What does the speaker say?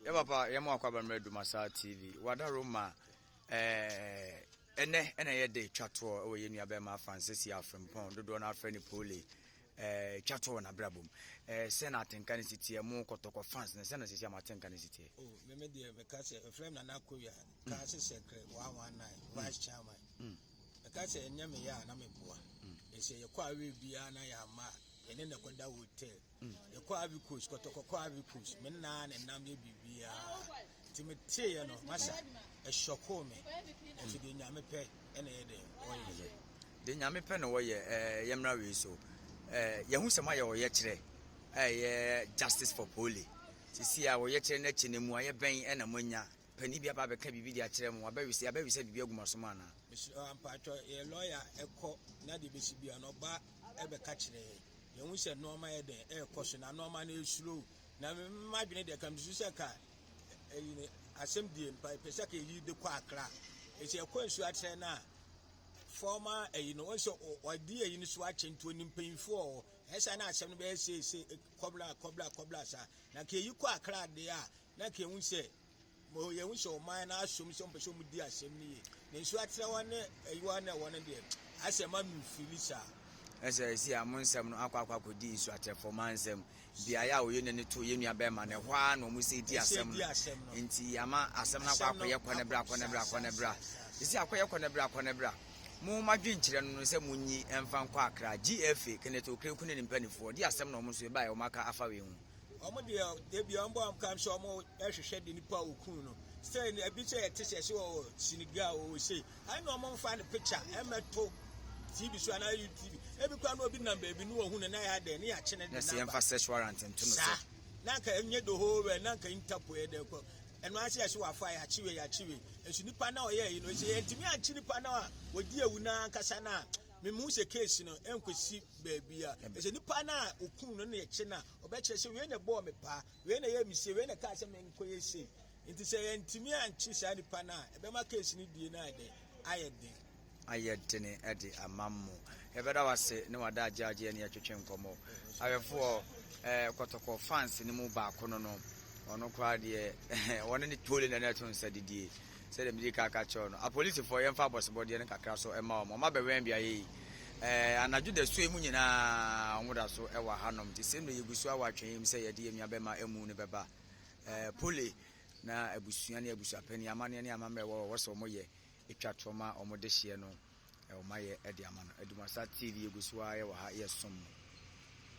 Yɛ papa yɛ mo akɔ abammerɛ Dumasa TV wada Roma ɛnɛ ɛna yɛ de twa toɔ ɛwɔ yɛ nua bɛrima afa nsɛsi afrempɔn dodoɔ no afrɛ ne pole Eh, twa to wɔ n'abrabɔ mu eh, sɛ na atenka no siteɛ mo kɔtɔkɔ fans no sɛ na sisi ama atenka no siteɛ oh, meme deɛ meka sɛ ɛfrɛ m nana kowia ka mm. se sɛkrɛ 119 mm. vice chairman mm. meka sɛ ɛnyɛ meyɛ a na meboa ɛsɛ yɛkɔ awe biara na yɛama a yɛne ne kɔda hotel Hmm, yɛkɔ Ivory Coast, kɔtɔkɔ kɔ Ivory Coast. Me naa na nam yɛ biribiara. Nti me teeɛ no, masa, ɛhyɔkoo me. Nso deɛ nyame pɛ ɛna ɛyɛ dɛ ɔyɛ. Deɛ nyame pɛ na wɔyɛ ɛɛ yɛmmra wei so. Ɛɛ yɛhu sɛ moayɛ ɔyɛkyerɛ ɛyɛ justice for poli. Sisi a ɔyɛkyerɛ no akyi no mu ayɛ bɛn ɛna moanya panin bi aba abɛka biribi de akyerɛ mo abɛwesɛ abɛwesɛ biribi agu mo asom anaa? Mesrɛ ampaatwɔ yɛ lɔya ɛkɔ na deɛ bɛsi bia no ɔba bɛka kyerɛ yɛn. Yɛhu sɛ nneɛma yɛ dɛn ɛrekɔ so na nneɛma no ɛresuro. Na m'adwene deɛ ka mesu sɛ ka ɛyi ne asɛm die mpa pɛ sɛ ka ɛyi de kɔ akra. Ɛsɛ ɛkɔ nsuo akyerɛ no a fɔɔma ɛyi no ɔsɛ ɔdi ɛyi no so akyɛ nti ɔni mpanyinfoɔ ɛsɛ na asɛm no bɛyɛ seese kɔbla kɔbla kɔbla saa. Na ka ɛyi kɔ akra deɛ a na ka ɛhu sɛ Mo yɛn ho hyɛ ɔman no asom sɛ ɔmpɛ sɛ ɔmo di asɛm no yie. Ne nso akyerɛwa ne ayiwa ne ɛwɔ no deɛ, asɛ ɛma no mfiri saa. Ɛsɛ ɛsi a mo nsɛm no akɔ akɔ akɔdi nsu akyerɛfoɔ ma nsɛm beaeɛ a ɔyɛ n'ani to yɛ nua bɛrima no ɛhɔ ara na ɔmo sɛ di asɛm no nti ama asɛm no akɔ akɔyɛ kɔ ne bra kɔ ne bra kɔ ne bra ɛsi akɔyɛ kɔ ne bra kɔ ne bra mo mo adwenkyerɛ no no sɛ mo nyi ɛmfa nkɔ akra gfa kenneth okrekun ne ne mpanimfoɔ di asɛm na ɔmo nso ɛbaeɛ ɔmo aka afa wei ho Wɔn deɛ ebi wɔn bɔ wɔn kam sɛ wɔn rehwehwɛ de nipa a wɔkuu no sɛ ebi sɛ yɛte sɛ sɛ wɔ Senegal wɔ sei ɛne na wɔn mfa ne picture ɛmɛto tv so anaa youtube ebi kura na obi nam baabi ne wɔhu no na yɛ adɛ ne yɛ akyene de namba. na sɛ yɛmfa search warrant nto no so. na nka enye the whole world na nka interpol yɛ dɛ kɔ ɛno ase ɛso wafa yɛ akyewe yɛ akyewe nso nipa na ɔyɛ yi no sɛ yɛntumi ankye nipa na wɔdi ewu na ankasa na Mihu sɛ case no ɛnkɔsi baabi a ɛsɛ nipa no a ɔkum no na ɛkye no a ɔbɛkyerɛ sɛ wei na ɛbɔɔ me paa, wei na ɛyɛ me sei, wei na ɛkaa sɛ menkɔyɛ sei. Nti sɛ yɛantumi ankye saa nipa no a ɛbɛma case no die no ayɛ dɛn? Ayɛ den. ayɛ dene de ama mo. Yɛbɛda wo ase ne wada agyaagye ɛne yɛtwetwe nkɔmmɔ. Awɛfoɔ, eh, kɔtɔkɔ fans no mu baako no no, ɔno koraa deɛ, wɔne ne tole na na ɛto nsa didie. Sɛdeɛ medii kan ka kyerɛɛ wo no, apolisifoɔ, yɛmfa abɔsebɔdeɛ no kakra nso mma wɔn. Wɔabɛwɛn beaeɛ yi anadwo dasuo yi mu nyinaa. Wɔda so wɔ hanom nti, sei mmerɛ yɛgu so wɔ atwɛn mu sɛ yɛde yɛn nuabɛma amu no bɛba. Polly, na abusua ne abusuapanin, amanneɛ ne amammerɛ wɔ wɔ sɛ wɔyɛ twa toɔ ma wɔn dehyeɛ no wɔayɛ de ama no. Adumasa TV, yɛgu so ara wɔ ha, yɛsom mo.